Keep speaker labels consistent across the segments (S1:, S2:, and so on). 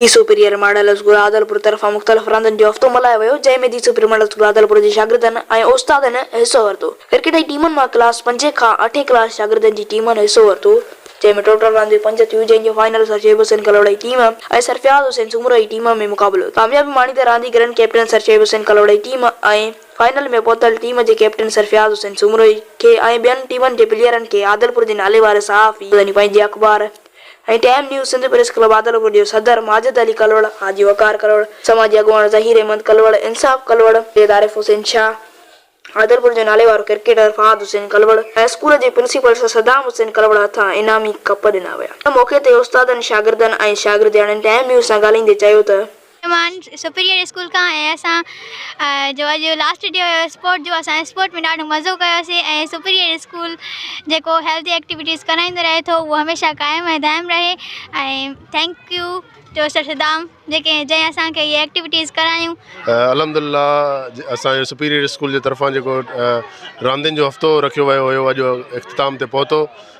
S1: The superior model school Adilpur طرفان مختلف راندن جو هفتو ملهايو ويو، جنهن ۾ the superior model school Adilpur جي شاگردن ۽ استادن حصو ورتو. ڪرڪيٽ جي ٽيمن مان ڪلاس پنجين کان اٺين ڪلاس شاگردن جي ٽيمن حصو ورتو، جنهن ۾ ٽوٽل رانديون پنج ٿيون، جنهن جو فائنل سر شعيب حسين ڪلهوڙا جي ٽيم ۽ سرفياض حسين سومرو جي ٽيم ۾ مقابلو ٿيو. ڪاميابي ماڻيندڙ رانديگرن ڪئپٽن سر شعيب حسين ڪلهوڙا جي ٽيم ۽ فائنل ۾ پهتل ٽيم جي ڪئپٽن سرفياض حسين سومرو کي ۽ ٻين ٽيمن جي پليئرن کي عادلپور جي ناليوار صحافي، مدني پنهنجي اخبار، ۽ time news Sindh press club Adilpur جي صدر ماجد علي ڪلوڙ، حاجي وقار ڪلوڙ، سماجي اڳواڻ ظهير احمد ڪلوڙ، انصاف ڪلوڙ، سيد عارف حسين شاهه، عادلپور جو ناليوارو ڪرڪيٽر فهاد حسين ڪلوڙ ۽ اسڪول جي پرنسپل سر صدام حسين ڪلوڙ هٿان انعامي ڪپ ڏنا ويا. ان موقعي تي استادن، شاگردن ۽ شاگردياڻين ٽائيم نيوز سان ڳالهائيندي چيو ته، ايمان سپريئر
S2: اسڪول کان ۽ اسان جو اڄ لاسٽ ڊي هيو اسپورٽ جو اسان اسپورٽ ۾ ڏاڍو مزو ڪيوسي ۽ سپريئر اسڪول جيڪو هيلٿي ايڪٽيوٽيز ڪرائيندو رهي ٿو اهو هميشه قائم ۽ دائم رهي ۽ thank you to sir Saddam جيڪي جنهن اسان کي هي ايڪٽيوٽيز ڪرايون الحمدلله
S3: اسان جو سپريئر اسڪول جي طرفان جيڪو راندين جو هفتو رکيو ويو هيو اڄ اختتام تي پهتو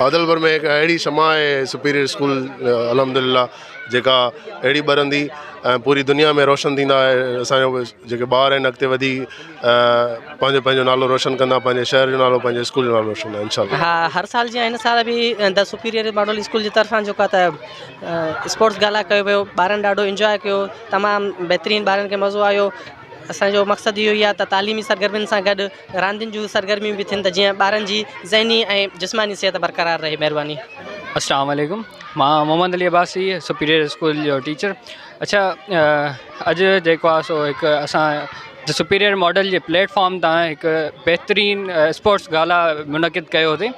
S3: عادلپور ۾ هڪ اهڙي شمع آهي سپيريئر اسڪول الحمدلله جيڪا اهڙي ٻرندي ۽ پوري دنيا ۾ روشن ٿيندا ۽ اسان جو جيڪي ٻار آهن اڳتي وڌي پنهنجو پنهنجو نالو روشن ڪندا پنهنجي شهر جو نالو پنهنجي اسڪول جو نالو روشن ڪندا انشاء الله ها هر سال جيئن هن
S4: سال به د سپيريئر ماڊل اسڪول جي طرفان جيڪا ته اسپورٽس گالا ڪيو ويو ٻارن ڏاڍو انجوائي ڪيو تمام بهترين ٻارن کي مزو آيو اسانجو مقصد اهو ئي آهي ته تعليمي سرگرمين سان گڏ راندين جون سرگرميون به ٿين ته جيئن ٻارن جي ذهني ۽ جسماني صحت برقرار رهي مهرباني. اسلام عليڪم
S5: مان محمد علي عباسي سپيريئر اسڪول جو ٽيچر اڇا اڄ جيڪو آ سو هڪ اسان جو سپيريئر ماڊل جي پليٽ فارم تان هڪ بهترين اسپورٽس گالا منعقد ڪيو هوسي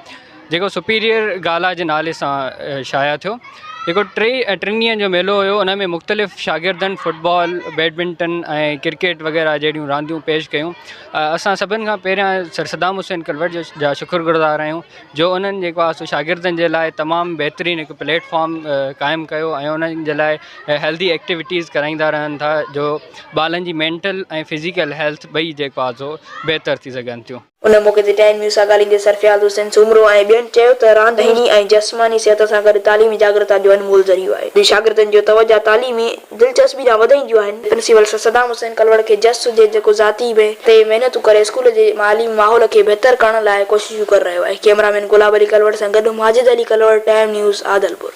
S5: جيڪو سپيريئر گالا جي نالي سان شايع ٿيو، جيڪو ٽي ۽ ٽن ڏينهن جو ميلو هيو، ان ۾ مختلف شاگردن فٽبال، بيڊمنٽن ۽ ڪرڪيٽ وغيره جهڙيون رانديون پيش ڪيون، اسان سڀن کان پهريان سر صدام حسين ڪلوٽ جا شڪرگذار آهيون جو انهن جيڪو آهي سو شاگردن جي لاء تمام بهترين هڪ پليٽ فارم قائم ڪيو ۽ انهن جي لاء هيلڌي ايڪٽيوٽيز ڪرائيندا رهن ٿا جو ٻالن جي مينٽل ۽ فزيڪل هيلٿ ٻئي جيڪو آهي سو بهتر ٿي سگهن ٿيون. ان موقعي تي ٽائيم نيوز
S1: سان ڳالهائيندي سرفياض حسين سومرو ۽ ٻين چيو ته راند ذهني ۽ جسماني صحت سان گڏ تعليمي جاڳرتا جو انمول ذريعو آهي، جي شاگردن جو توجهه تعليمي دلچسپي ڏانهن وڌائينديون آهن. پرنسپل سر صدام حسين ڪلوڙ کي جس هجي جيڪو ذاتي بي تي محنتون ڪري اسڪول جي تعليمي ماحول کي بهتر ڪرڻ لاء ڪوششون ڪري رهيو آهي، ڪيمرا مين گلاب علي ڪلوڙ سان گڏ ماجد علي ڪلوڙ ٽائيم نيوز عادلپور.